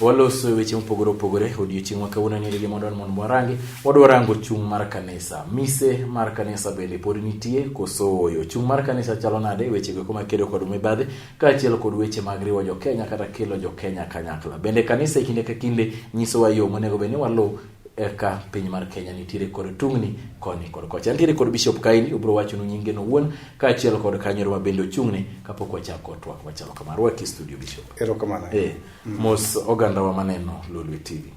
Waloso e weche mopogore opogore odiochieng' ma kawuono ni rigi mondo mondo warangi wadwa rango chung' mar kanisa mise mar kanisa bende pod nitie koso oyo chung' mar kanisa chalo nade weche go kuma kedo kod mibadhi kaachiel kod weche mag riwo jo Kenya kata kelo jo Kenya kanyakla bende kanisa e kinde ka kinde nyisowa yo monego bed ni waluw eka piny mar Kenya nitiere kod tungni koni kod kocha. Nitiere kod Bishop Kaini obiro wachonu nyinge no wuon kaachiel kod kanyoro ma bende ochung'ne kapok wachako twak machalo kamar. Rwaki studio Bishop. Erokamano. Eh. mos oganda wa maneno lolwe tv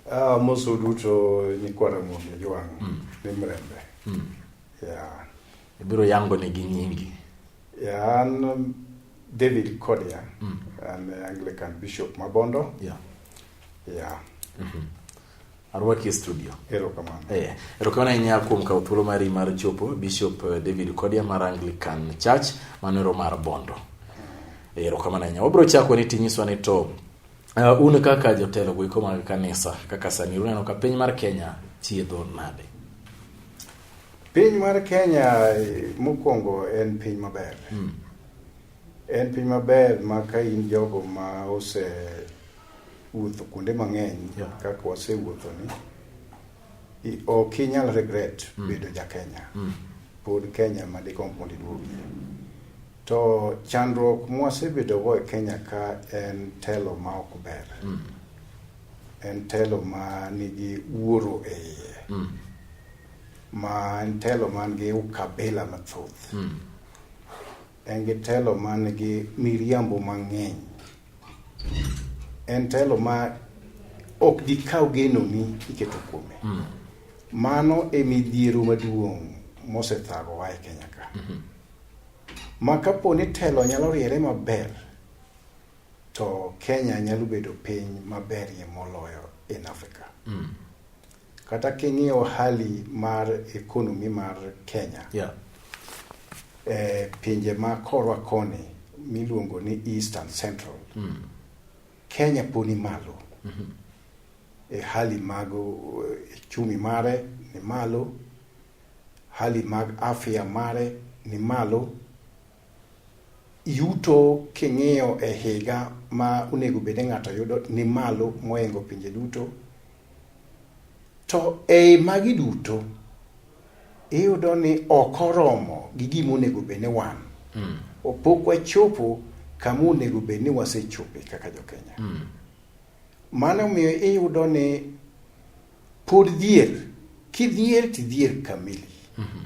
uh, ah, mos uduto nyikwa ramogi ojwang mm. ni mrembe mm. yeah. ibiro yango negi nyingi yeah, an um, david kodia mm. an anglican bishop mabondo yeah. Yeah. Mm -hmm. Arwaki e studio. Erokamano. Eh, erokamano ahinya kuom kawo thuolo mari mar chopo Bishop eh, David Kodia mar Anglican Church manero mar Bondo. Eh, erokamano ahinya. Wabiro chako ni tinyiswa ni to uh, un kaka jotelo goiko mag kanisa kaka sani uneno ka piny mar Kenya chiedho nade? Piny mar Kenya eh, mokwongo en piny maber. Mm. En piny maber ma ka in jogo ma ose wuotho kuonde mang'eny yeah. kaka wasewuotho ni ok inyal regret mm. bedo ja Kenya mm. pod Kenya ma dikom mondo iduogie to chandruok mwasebedogo e Kenya ka en telo ma ok ber mm. en telo ma nigi wuoro e iye mm. ma en telo man gi ukabila mathoth mm. En gi telo man gi miriambo mang'eny. En telo ma ok dikaw genoni iketo kuome. Mm. Mano e midhiero maduong' mosethagowa e Kenya ka. Mm -hmm. Ma kapo ni telo nyalo riere maber, to Kenya nyalo bedo piny maberie moloyo in Africa. Mm. Kata king'iyo hali mar economy mar Kenya yeah. e pinje ma korwa koni miluongo ni East and Central mm. Kenya poni malo mm -hmm. e hali mag e chumi mare ni malo, hali mag afya mare ni malo yuto king'iyo e higa ma onego bed ni ng'ato yudo ni malo moingo pinje duto. To ei magi duto, iyudo ni ok oromo gi gima onego bed ni wan. Mm. Pok wachopo kama onego bed ni wasechope kaka jo Kenya. Mm. Mano omiyo iyudo ni pod dhier, kidhier tidhier kamili. Mm -hmm.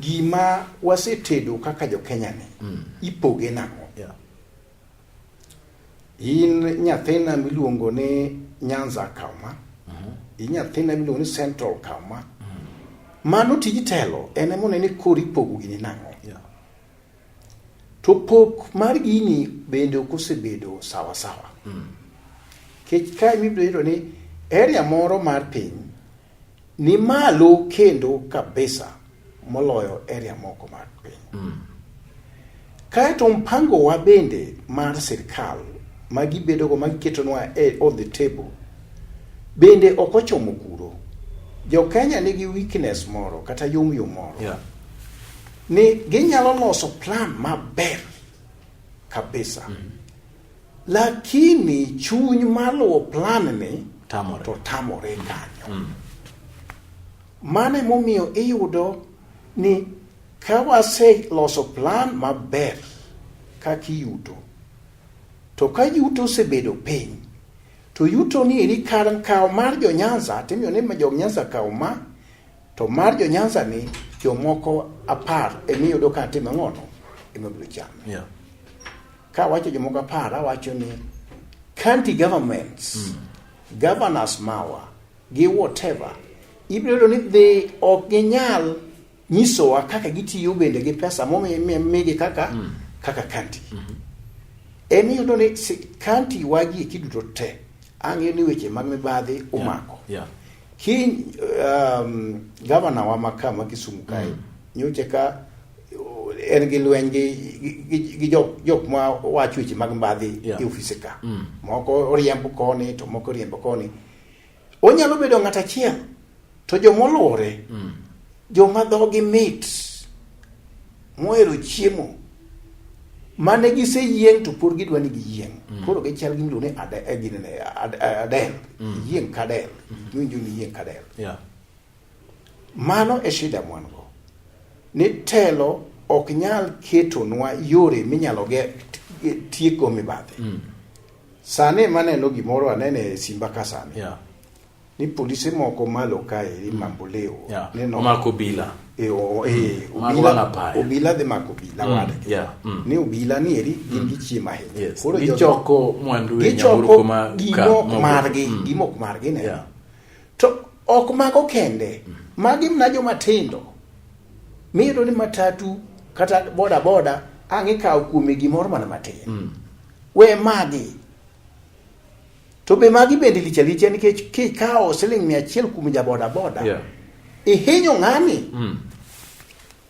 Gima wasetedo kaka jo Kenya ni mm. ipoge nang'o? Yeah. In nyathina miluongo ni Nyanza Kauma, mm -hmm. in nyathina miluongo ni Central Kauma. Mm -hmm. Mano tij telo en ema onene koro ipogo gini nang'o? Yeah. To pok mar gini bende ok osebedo sawa sawa. Mm. Kech kae mibiro yudo ni area moro mar piny ni malo kendo kabisa moloyo area moko mag piny mm. kaeto mpangowa bende mar sirkal ma gibedogo ma giketonwa e, on the table bende ok ochomo kuro jo kenya nigi weakness moro kata yomyo moro yeah. ni ginyalo loso plan maber kabisa mm -hmm. Lakini chuny maluwo plan ni tamore. to tamore kanyo. Mm. Mano emomiyo iyudo ni ka waseloso plan maber kaka iyuto, to ka yuto osebedo piny, to yuto ni eri kar kawo mar jo Nyanza, timiyo ni jo Nyanza kawo ma, to mar jo Nyanza ni jomoko apar emi yudo ka time ng'ono ema biro chame. Yeah. Ka wacho jomoko apar, awacho ni county governments, mm. governors mawa, gi whatever, ibiro yudo ni dhi ok ginyal nyisowa kaka gitiyo bende gi pesa momigi kaka mm. kaka county. Mm -hmm. En iyudo ni county wagi eki duto te ang'eyo ni weche mag mibadhi umako. Yeah. Yeah. Ki um, gavana wa maka ma Kisumu kae mm. nyocha ka en gi lweny gi gi- gi jok jok ma wacho weche mag mbadhi Yeah. e ofise ka Mm. moko oriembo koni to moko oriembo koni onyalo bedo ng'at achiel to jomoluwore Mm. joma dhogi mit mohero chiemo mane giseyieng' to pod gidwa ni giyieng' Mm. koro gichal gi miluongo ni ade- eh, gini ne, ad- eh, adel Mm. yieng' kadel iwinjo ni yieng' kadel Yeah. Mano e shida mwan go. Ni telo ok nyal ketonwa yore minyalo tieko mibadhi. Mm. Sani ema aneno gimoro aneno e simba ka sani. Yeah. Ni polise moko malo kae ni mm. mamboleo. Yeah. Neno. Omako bila. E, o, e, mm. obila, obila dhe mako obila mm. wadgi. Yeah. Mm. Ni obila ni eri gin mm. gichiemo ahinya. Yes. Koro gichoko mwandu e nyamburko ma ka. Gichoko gimok margi. Mm. Gimok margi ne. Yeah. To ok mago kende, magi mna joma tindo miyudo ni matatu kata boda boda ang' ikawo kuome gimoro mana matin mm. we magi to be magi bende licha licha nikech kikawo siling mia achiel kuom jaboda boda yeah. ihinyo ng'ani mm.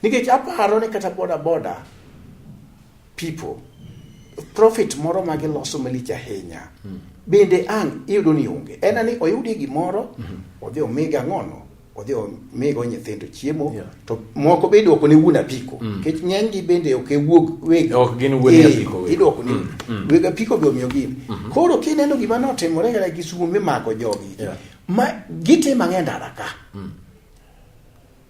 Nikech aparo ni kata boda boda people profit moro ma giloso malich ahinya hmm. bende ang' iyudo ni onge en ani oyudie gimoro hmm. odhi omige ang'ono odhi omigo nyithindo chiemo yeah. to moko be idwoko ne wuon apiko hmm. nikech mm. ng'enygi bende ok ewuog weg ok gin wuon eh, apiko idwoko ni mm. weg apiko be omiyo gin mm -hmm. koro kineno gima notimore kata gi sumo mimako jogi yeah. ma gitimo ang'e ndara ka mm.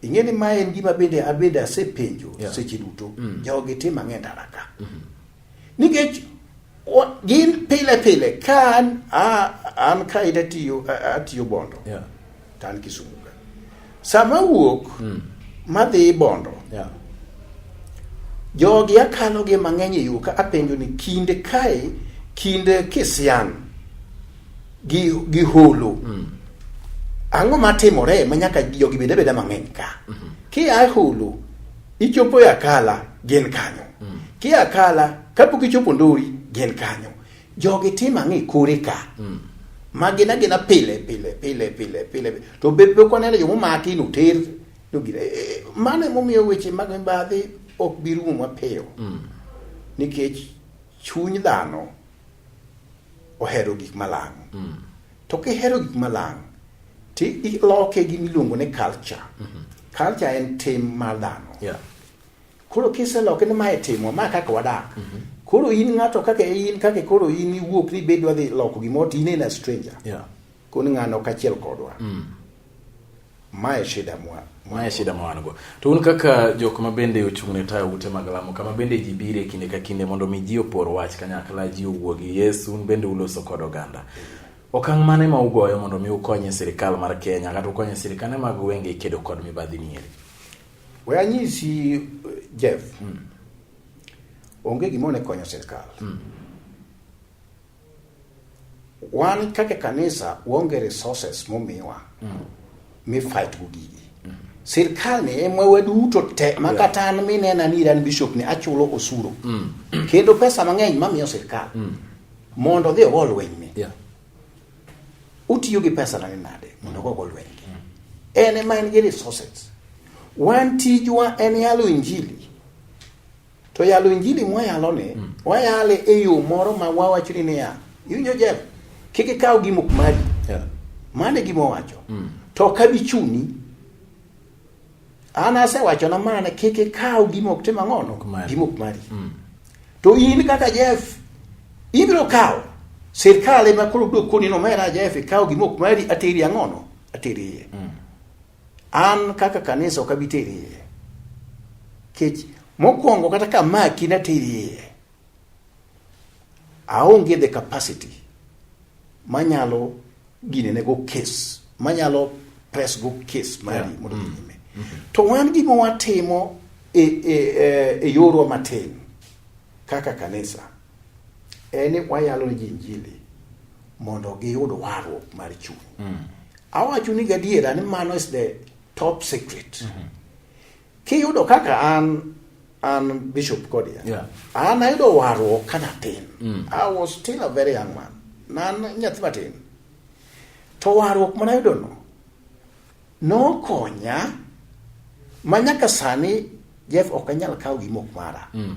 ing'e ni ma en gima bende abende asepenjo yeah. seche duto mm. jogi tim ang'e ndara ka mm -hmm. nikech gin pile pile ka an an ka ita tiyo atiyo bondo yeah. to an kisumu ka sama wuok mm. madhi bondo yeah. jogi akalogi mang'eny e yo ka apenjo ni kinde kae kinde kisian gi gi holo mm. ang'o matimore ma nyaka jogi bende beda mang'eny ka mm -hmm. ki a holo ichopo ya kala gin kanyo mm. ki a kala kapok ichopo ndori gin kanyo jogi tim ang'e kore ka mm. ma gin agina pile pile pile pile pile to be be ko neno jomo maki no ter no gire eh, eh, mane momiyo weche mag mibadhi ok bi rumo mapiyo mm. nikech chuny dhano ohero gik malang'. Mm. To kihero gik malang' ti iloke gi miluongo ni culture. Mm -hmm. Culture en tim mar dhano. Yeah. Koro kiseloke ni mae timo ma kaka wadak. Mm -hmm. Koro in ng'ato kaka in kaka koro in iwuok ni bedwa dhi loko gimoro to in a stranger. Yeah. Koni ng'ano kachiel kodwa. Mm. Mae shida mwa mae shida ma wan go. To un kaka jok ma bende ochung' ne tayo ute mag lamo kama bende ji bire kinde ka kinde mondo mi ji opor wach kanyakla ji owuo gi Yesu un bende uloso kod oganda. Okang' mane ma ugoyo mondo mi ukonye sirikal mar Kenya kata ukonye sirikane mag wenge kedo kod mibadhi ni eri? We anyisi Jeff. Hmm. Onge gimone konyo sirikal. Hmm. Wan kaka kanisa waonge resources momiwa mm. mi fight go gigi. Mm. Sirkal ni ema waduto te ma kata an minena ni an bishop ni achulo osuru. Mm. Kendo pesa mang'eny mamiyo sirkal. Mm. Mondo dhi ogol lweny ni. Yeah. Utiyo gi pesa na nade mondo ogol lweny. Mm. En ema en gi resources. Wan tijwa en yalo injili. To yalo injili mwayaloni, mm. wayale e yo moro ma wawacho ni niya, iwinjo Jeff, kik ikaw gima ok mari. Yeah. Mane gima owacho. Mm. To ok abi chuni. An asewacho na mana kik ikaw gima ok tim ang'ono, gima ok mari. Mm. To in kaka Jeff, ibiro kawo. Sirkal ema koro biro koni nomera Jeff, ikaw gima ok mari ateri ang'ono, ateri iye. Mm. An kaka kanisa ok abi teri iye. Kech mokwongo kata ka maki na teri iye. Aonge the capacity manyalo gine ne go case manyalo press go case mari yeah. mondo mm. nyime. Mm -hmm. To wan gima watimo e, e, e, e yorwa matin kaka kanisa en ni wayalo ne ji Injili mondo giyud warruok mar chuny. Mm. Awacho ni gadiera ni mano is the top secret. Mm -hmm. Kiyudo kaka an an Bishop Kodia. Yeah. An ayudo warruok ka natin. Mm. I was still a very young man. Nan nyathi matin. To warruok mana yudo no. Nokonya ma nyaka sani Jeff ok anyal kawo gimok mara. Mm.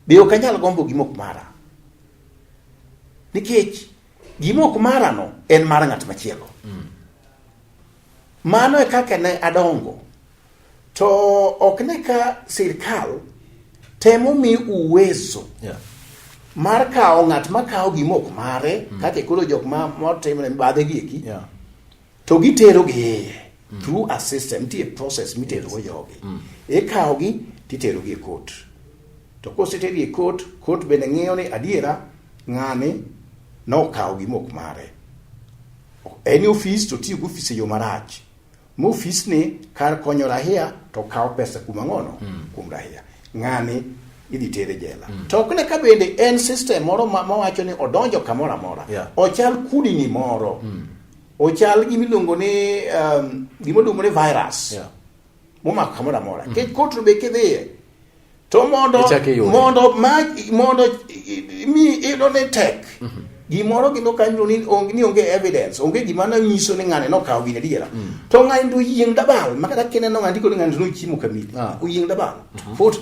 Be ok anyal gombo gima ok mara? Nikech gima ok marano en mar ng'at machielo. Mm. Mano e kaka ne adongo. To ok ne ka sirkal temo mi uwezo yeah. mar kawo ng'at ma kawo gima ok mare mm. kaka koro jok ma motimo ne badhe gi eki yeah. to gitero gi iye mm. through a system nitie process mitero go jogi mm. ikawo gi titero gi e court to koseter gi e court court bende ng'iyo ni adiera ng'ani nokawo gi mok mare en ofis to tiyo gi ofis e yo marach ma ofis ni kar konyo rahia to kawo pesa kuom ang'ono mm. kuom rahia ng'ani idhi tere jela mm. to ok ne ka bende en system moro mawacho ni odonjo kamoro amora yeah. ochal kudini moro mm. Ochal gima iluongo ni um, gima iluongo ni virus. Yeah. Momako kamoro amora. Mm -hmm. Kech kotro be kidhiye. To mondo mondo ma mondo mi ilo ne tek. Mm -hmm. Gimoro gino kanyo ni onge ni onge evidence, onge gima na nyiso ni ngane no kawo gine diera. Mm. To ngani ndo yieng dabal, makata kene no ngandiko ni ngani ndo chimo kamili. Ah. Uyieng dabal. Mm -hmm. Fut.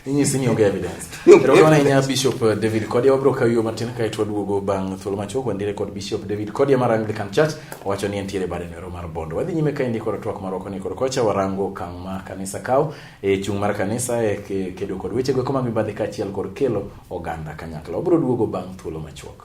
Inyisi ni onge evidence. Erokamano ahinya Bishop eh, David Kodia. Wabiro kawi yo matin kae to waduogo bang' thuolo machuok wandire kod Bishop David Kodia mar Anglican Church owacho ni entiere bade nero mar Bondo. Wadhi nyime kaendi kod twak marwa koni kod kocha warango okang' ma kanisa kawo e chung' mar kanisa e kedo kod wechego eko mag mibadhi kaachiel kod kelo oganda kanyakla. Wabiro duogo bang' thuolo machuok.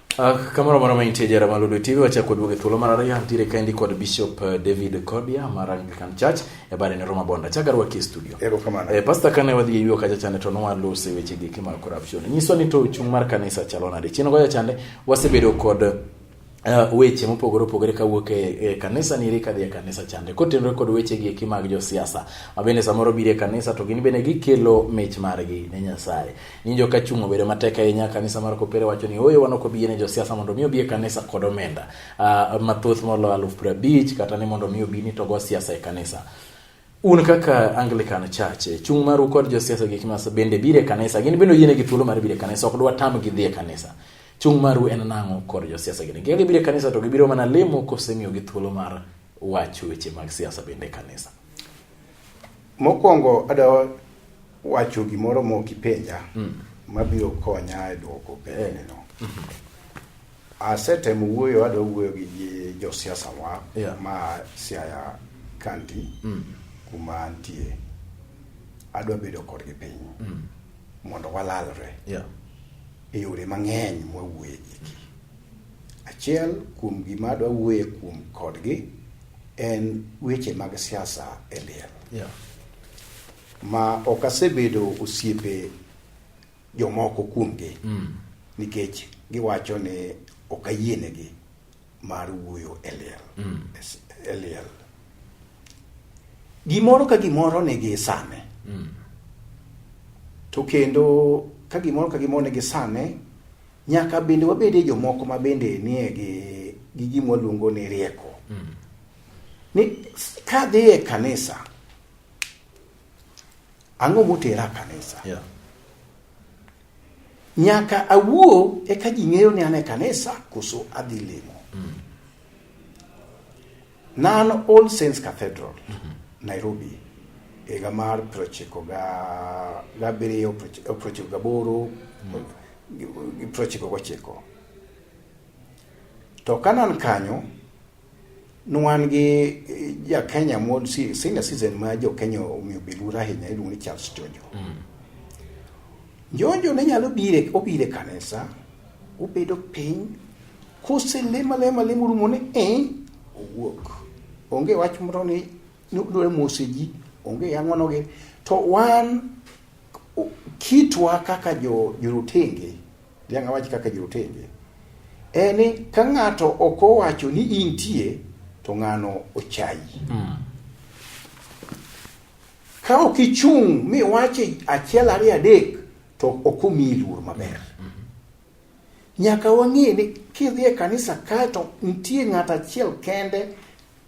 Uh, kamoro moro ma intie jara maludo tv wachak kod wuoge thuolo mar ariyo ntiere kaendi kod bishop uh, david kodia mar anglican church e bare ne roma bonda chak arwaki e studio erokamano eh, pasta kane wadhi eyuo kacha chande to nowalose weche giki mag corruption nyiso ni to chung' mar kanisa chalo nade chien gocha chande wasebedo kod Uh, weche mopogore opogore kawuok e, e kanisa niri kadhi e kanisa chande kotenore kod weche gi eki mag josiasa mabende samoro biro e kanisa to gin bende gikelo mich margi ne nyasaye Nyinjo ka chung' obedo matek ahinya kanisa mar kopere wacho ni oyo wan ok obiye ne josiasa mondo mi obiye kanisa kod omenda uh, mathoth molo aluf piero abich kata ni mondo mi obi ni togo siasa e kanisa un kaka anglican church eh, chung' maru kod josiasa gik mas bende bire kanisa gin bende oyienegi thuolo mar bire kanisa ok dwa tam gi dhie kanisa chung' maru en nang'o kod josiasa gini kika gibire kanisa to gibiro mana lemo kosemiyogi thuolo mar wacho weche mag siasa bende kanisa Mokwongo ada wacho gimoro mok ipenja mm. mabiro konya e dwoko penjneno. Mm -hmm. Asetemo wuoyo adwa wuoyo gi josiasa wa yeah. ma Siaya County mm. kuma antie adwa bedo kodgi piny mm. mondo walalre yeah. e yore mang'eny mwawuoye giki Achiel kuom gima adwa wuoye kuom kodgi en weche mag siasa e liel yeah. ma ok asebedo osiepe jomoko kuomgi mm. nikech giwacho ni ok ayienegi mar wuoyo e liel mm. e liel gimoro ka gimoro nigi sane mm. to kendo ka gimoro ka gimoro nigi sane Nyaka bende wabedie jomoko ma bende nie gi, gi gima waluongo ni rieko. Mm. Ni ka dhi e kanisa, ang'o motera kanisa? Yeah. Nyaka awuo eka ji ng'eyo ni an e kanisa koso adhi limo. Mm. Nan All Saints Cathedral, Nairobi, e higa mar prochiko ga- gabiriyo proch- eh, prochiko gaboro gi- gi prochiko gochiko. To ka nan kanyo, nwan gi eh, ja Kenya moro si- senior citizen ma jo Kenya omiyo bilura ahinya iluongo ni Charles Jonjo. Jonjo ne nyalo bire obire kanisa, obedo piny, Koselem alema lem orumo ni eh, owuok. Onge wach moro ni ni odwaro mose ji, onge yang'onogi. To wan o- kitwa kaka jo jorotenge, dhiang' awach kaka jorotenge, en ni ka ng'ato ok owacho ni intie to ng'ano ochayi. Ka ok ichung' miwache achiel ariyo adek to ok omiyi luor maber. Nyaka wang'e ni kidhi e kanisa kae to nitie ng'ato achiel kende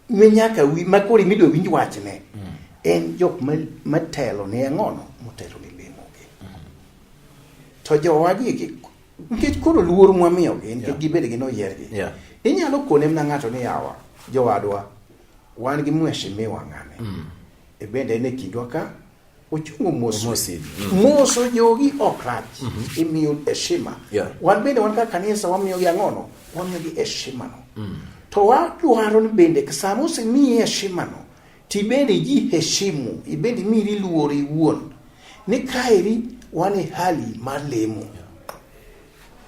mi nyaka wi ma koro imidwa winj wachne mm. en jok matelo ne ang'ono motelo ne lemogi to jowagi nikech koro luor mwamiyogi nikech gibed gi noyiergi inyalo kone mna ng'ato ni yawa jowadwa wan gi mweshimiwa ng'ane mm. e bende en e kindwa ka ochungo mos moso mm. jogi ok rach mm-hmm. imiyo heshima wan bende wan ka kanisa wamiyogi ang'ono wamiyogi heshimano mm. to wadwaro ni bende sama osemiyi heshimano tibende ji heshimu ibende imiri luor iwuon ni kaeri wan e hali mar lemo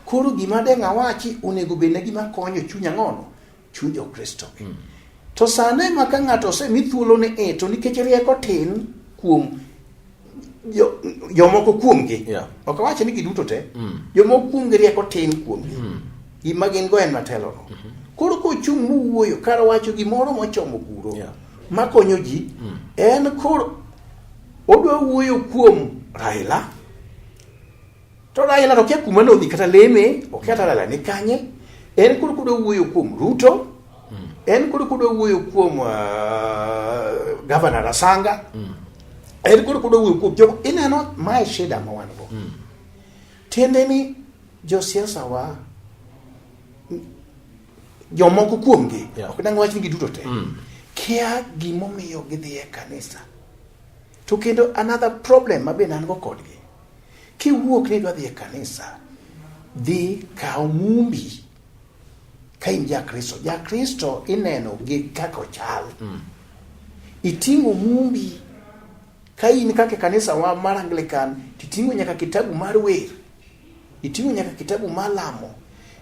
koro gima deng'a wachi onego bedna gima konyo chunya ng'ono Chuny Jokristo. Mm. To sano ema ka ng'ato osemi thuolo ni e to nikech rieko tin kuom jomoko jo kuomgi yeah. ok awache ni giduto te mm. jomoko kuomgi rieko tin kuomgi mm. gima gin go en matelono mm -hmm. koro kochung' mowuoyo kar wacho gimoro mochomo kuro yeah. makonyo ji mm. en koro odwa wuoyo kuom Raila To Raila to kia kuma nodhi kata leme, ok kata Raila ni kanye. En kod kudo wuoyo kuom Ruto. Mm. En kod kudo wuoyo kuom uh, Governor Rasanga. Mm. En kod kudo wuoyo kuom jogo ineno mae shida ma wan go. Mm. Tiende ni josiasa wa jomoko kuomgi yeah. ok dang wach ni giduto te mm. kia gimomiyo gidhi e kanisa to kendo another problem ma be nan go kodgi Kiwuok ni idwa dhi e kanisa, dhi kaw mumbi ka in Jakristo. Jakristo ineno gi kaka ochal. Mm. Iting'o mumbi ka in kaka e kanisa wa mar Anglican, titing'o nyaka kitabu mar wer, iting'o nyaka kitabu mar lamo,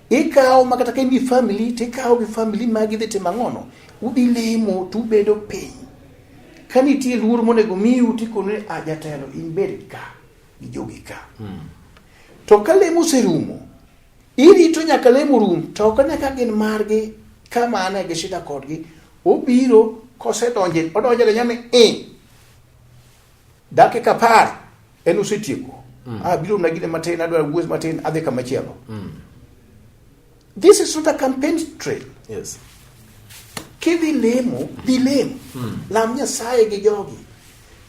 ikawo ma kata ka in gi famili, tikawo gi famili magi dhi timo ang'ono, udhi limo to ubedo piny Ka nitie luor monego miu tikone a ah, jatelo in bed ka gi jogi ka. Hmm. To ka lemo oserumo, irito nyaka lemo rum to ok ne ka gin margi ka mane gi shida kodgi. Obiro kosedonje odonje le nyame e eh, dakika par en osetieko. Mm. Ah, biro na gine matin adwa wuoth matin adhi kama chielo. Mm. This is not a campaign trail. Yes. Kidhi lemo, dhi lemo. Hmm. Lam Nyasaye gi jogi.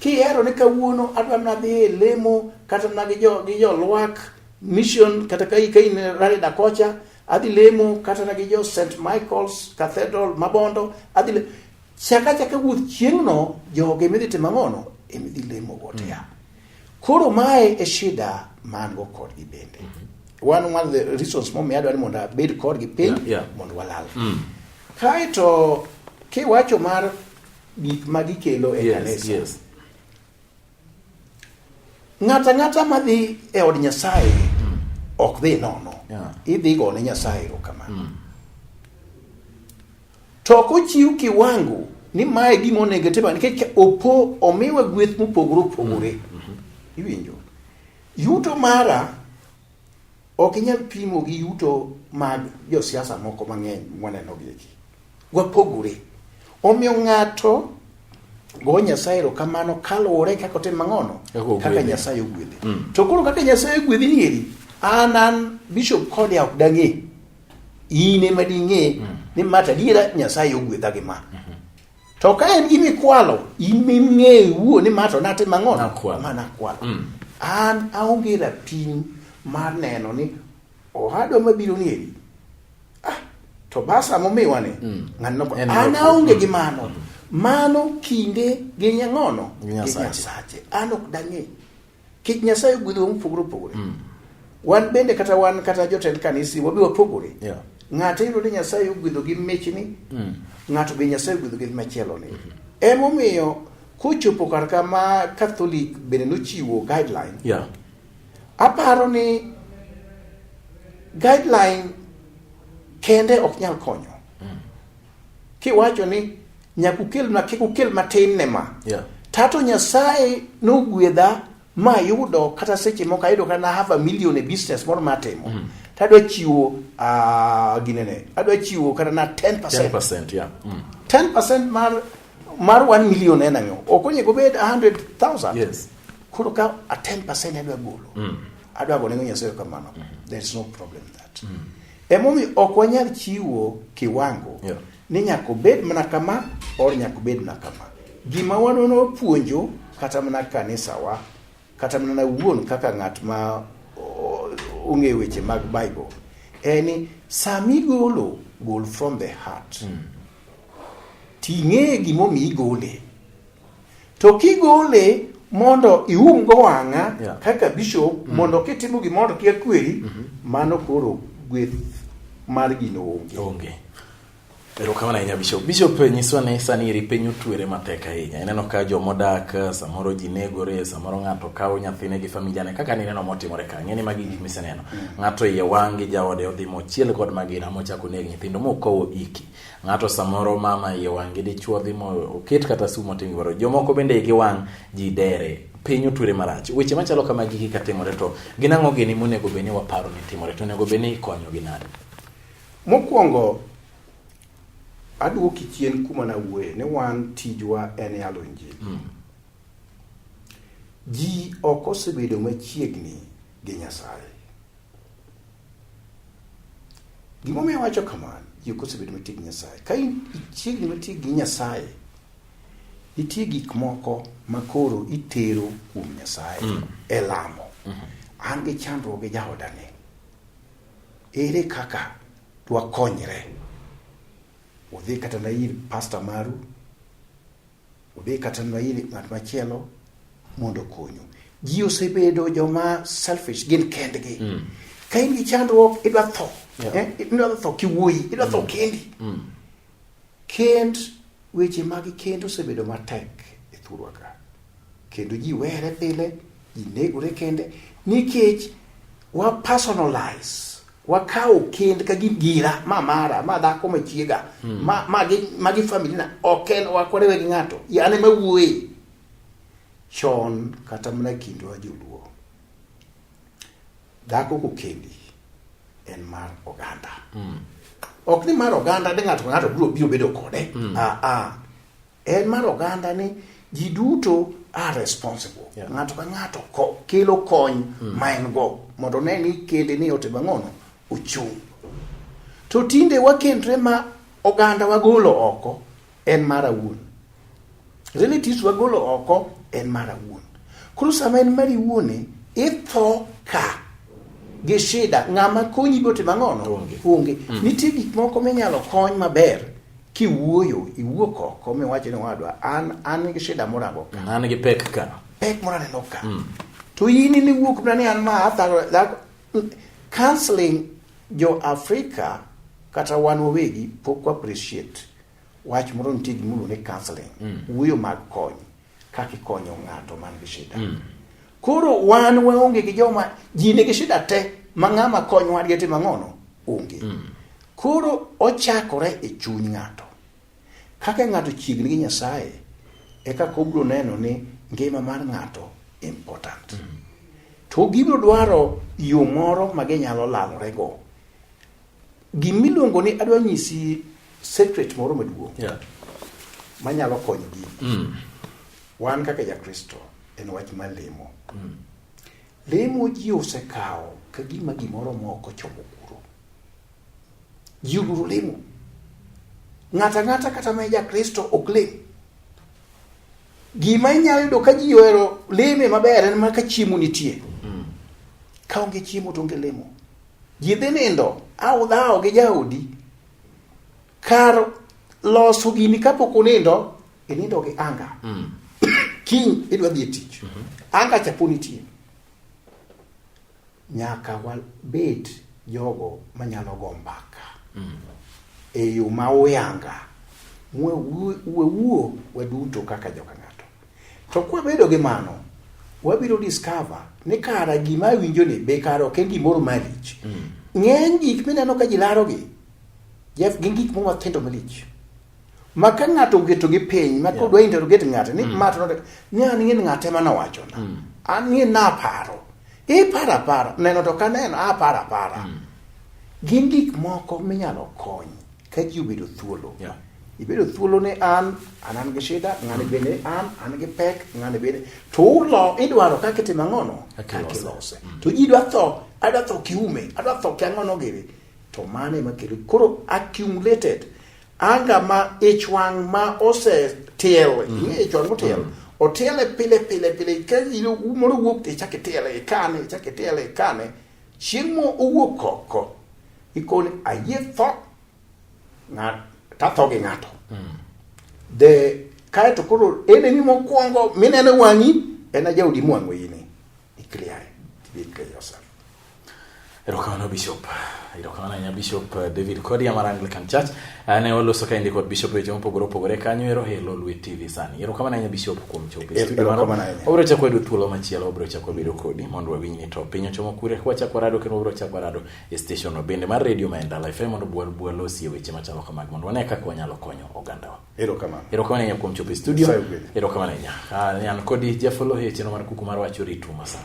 Kihero ni kawuono adwa nadhi e lemo kata na gi jo gi jo lwak mission kata kai kai ne rari da kocha adhi lemo kata na gi jo St Michael's Cathedral Mabondo adhi le... chaka chaka wuoth chieng'no joge midhi timo ang'ono emidhi lemo gote ya. Hmm. Koro mae e shida man go kodgi bende. Mm -hmm. One, one of the reasons momiyo adwaro ni mondo abed kodgi piny yeah, yeah. mondo walal. Mm. Kaeto kiwacho mar gik ma gikelo e yes, kanisa. Yes. Ng'ata ng'ata madhi e od Nyasaye mm. ok dhi nono. Yeah. Idhi go ne Nyasaye erokamano. Mm. To ok ochiw kiwango ni mae gima onego otim nikech opo omiwa gweth mopogore opogore. Mm-hmm. Iwinjo? Yuto mara ok inyal pimo gi yuto mag josiasa moko mang'eny mwaneno gi eki. Wapogore. Omiyo ng'ato go Nyasaye erokamano kaluwore kaka otim mang'ono kaka Nyasaye ogwedhe. Mm. To koro kaka Nyasaye ogwedhi nieri an an Bishop Kodia ok dang'e. in ema ding'e mm. ni ma to adiera nyasaye ogwedha gi ma mm-hmm. to ka en gima ikwalo in ming'eyo wuo ni ma to natimo ang'o ma nakwalo mm. an aonge rapim mar neno ni ohadwa mabiro ni eri ah, to basa momiwa ni mm. ng'anno an aonge gi mano mm. mano kinde gi nyang'ono gi nyasache an ok dang'e Kech Nyasaye ogwedhowa mopogore opogore. Mm. Wan bende kata wan kata jotend kanisi wabi wapogore. Yeah. Ng'ato yudo ni Nyasaye ogwedho gi michni. Mm. Ng'ato be Nyasaye ogwedho gi machielo ni. Mm -hmm. Emomiyo kochopo kar kama Catholic bende nochiwo guideline. Yeah. Aparo ni guideline kende ok nyal konyo. kiwacho ni nyaka ukelna kik ukel matin ne ma yeah. tato nyasaye nogwedha mayudo kata seche moko ayudo kata half a million e business moro matimo mm. to adwa chiwo uh, ginene adwa chiwo kata na 10 percent 10 percent yeah. mm. 10 percent mar mar 1 million en ang'o ok onego obed 100000 yes. koro ka a 10 percent adwa golo mm. adwa go nego nyasaye kamano mm. there is no problem that mm. Emomiyo ok wanyal chiwo kiwango yeah. ni nyaka obed mana kama or nyaka obed mana kama. Gima wanono wapuonjo kata mana kanisawa kata mana wuon kaka ng'at ma ong'eyo weche mag Bible en ni sama igolo gol from the heart. Mm. Ting'e gimomiyo igole. To kigole mondo iumgo wang'a yeah. kaka bishop mm -hmm. mondo kitimo gimoro kia kweri mm -hmm. mano koro gweth mar gino onge. Onge. Erokamano ahinya Bishop. Bishop eh, nyiswa ni sani eri piny otwere matek ahinya. Ineno ka jomodak eh, samoro ji negore, samoro ng'ato kawo nyathine gi familia ne kaka nineno motimore ka. Ng'eni magi gik miseneno. Mm. Ng'ato iye wang' gi jaode odhi mochiel kod magina mochako neg nyithindo mokowo iki. ng'ato samoro mama iye wang' gi dichuo dhi mo oket kata sumo tim gimoro jomoko bende igi wang' ji dere piny otwere marach weche machalo kama gigi ka timore to gin ang'o gini monego bed ni waparo ni timore to onego bed ni ikonyogi nade mokwongo adwoki chien kuma nawuoye ni wan tijwa en yalo injili mm. ji ok osebedo machiegni gi nyasaye Gima omiyo wacho kamano, ji ok osebedo matig gi Nyasaye. Ka in ichiegni matig gi Nyasaye, nitie gik moko ma koro itero kuom Nyasaye mm. e lamo. Mm-hmm. An gi chandruok gi jaodani. Ere kaka dwakonyre? Udhi kata na ir pasta maru, Odhi kata nwa ir ng'at machielo mondo okonyu. Ji osebedo joma selfish gin kendgi. Mm. Ka in gi chandruok idwa tho. Yeah. Eh? Idwa tho kiwuoyi, idwa tho mm. kendi. Mm. Kend weche mag kend osebedo matek e thurwa ka. Kendo ji were pile Ji negore kende nikech wa personalize wakawo kend ka gin gira ma mara ma dhako ma chiega hmm. ma ma gi ma gi family na ok en wakorewe gi ng'ato yane ma wuoye chon kata mana kindwa joluo dhako kokendi en mar oganda mm. ok ni mar oganda ni ng'ato ng'ato biro biro bedo kode mm. ah, ah. En mar oganda ni ji duto are responsible yeah. ng'ato ka ng'ato ko, kelo kony mm. ma en go mondo ne ni kende ni ote bang'ono ochung' to tinde wakendre ma oganda wagolo oko en mara wuon relatives wagolo oko en mara wuon koro sama en mari wuone itho ka gi shida ng'ama konyi gote mang'ono onge mm. nitie gik moko minyalo kony maber Kiwuoyo, iwuok oko miwacho ni wadwa an an gi shida moro ago ka. An gi pek ka. Pek moro aneno ka. Mm. To in ni wuok na ni an ma athago that counseling jo Afrika kata wan wawegi pok appreciate wach moro nitie gimoro ni counseling. Mm. Wuoyo mag kony. kaka ikonyo ng'ato man gi shida mm. koro wan waonge gi joma ji nigi shida te ma ng'ama kony wadgi e timo ang'ono onge mm. koro ochakore e chuny ng'ato kaka ng'ato chiegni gi nyasaye e kaka obiro neno ni ngima mar ng'ato important mm. to gibiro dwaro yo moro ma ginyalo lalorego Gima iluongo ni adwa nyisi secret moro maduong' yeah. manyalo konyo gini mm. wan kaka jakristo en wach mar lemo mm. lemo ji osekawo ka gima gimoro moko chomo kuro ji oluro lemo ng'ato ang'ata kata ma jakristo ok lem gima inyalo yudo ka ji ohero leme maber en mana ka chiemo nitie mm. ka onge chiemo to onge lemo Ji dhi nindo awdhawo gi jaodi kar loso gini kapok unindo inindo gi anga mm. kiny idwa dhi e tich mm -hmm. anga chapo nitie nyaka wabed jogo manyalo go mbaka mm. e yo ma uyanga wewuo waduto kaka joka To kwabedo gi mano, wabiro discover ni kara gima awinjo ni be kara ok en gimoro malich. Mm. Ng'eny gik mineno ka ji larogi, Jeff, gin gik moko mathindo malich. Ma ka ng'ato ogeto gi piny, ma kodwa yeah. interrogate ng'ato, ni mm. mato node, ni an ng'e ng'ate ma nowacho na. Mm. An ng'e naparo. Ipara e para, neno to ka neno, apara para. Mm. Gin gik moko minyalo kony. Ka ji obedo thuolo. Yeah. Ibedo thuolo ni an, an an gi shida, ng'ani bende an, an gi pek, ng'ani bende. To ulo, idwaro kaka itimo ang'ono? Kaka Kaka ilose. ilose. Mm. To ji dwa tho, adwa tho kiume, adwa tho ki ang'ono gini. To mano ema kelo. Koro accumulated. Anga ma ich wang' ma ose tiel, ing'e ich wang' motiel. Otiele pile pile pile, ka ilo- moro wuok to ichak itiele, ikane, ichak itiele, ikane. Chieng' mo owuok oko, ikoni ayie tho, ng'at tatho gi ng'ato. Mm. The kae to koro ene ni mokwongo minene wang'i en ajaudi mwang'o ini. Ikliya, ikliya yourself. Erokamano Bishop. Erokamano ahinya Bishop eh, David Kodia mar Anglican Church. ne waloso kaendi kod bishop weche mopogore opogore kanyo ero helo lwe tv sani ero kamano ahinya bishop kuom chopo e studio marwa wabiro chako yudo thuolo machielo wabiro chako bedo kodi mondo wawinj ni to piny ochomo kure wachako rado kendo wabiro chako rado e station no bende mar radio ma endala fm mondo bwal bwal osie weche machalo kamag mondo wane kaka wanyalo konyo ogandawa ero kamano ero kamano ahinya kuom chopo e studio ero kamano ahinya ah, an kodi jafolo e chenro mar kuku mar wacho ritu masana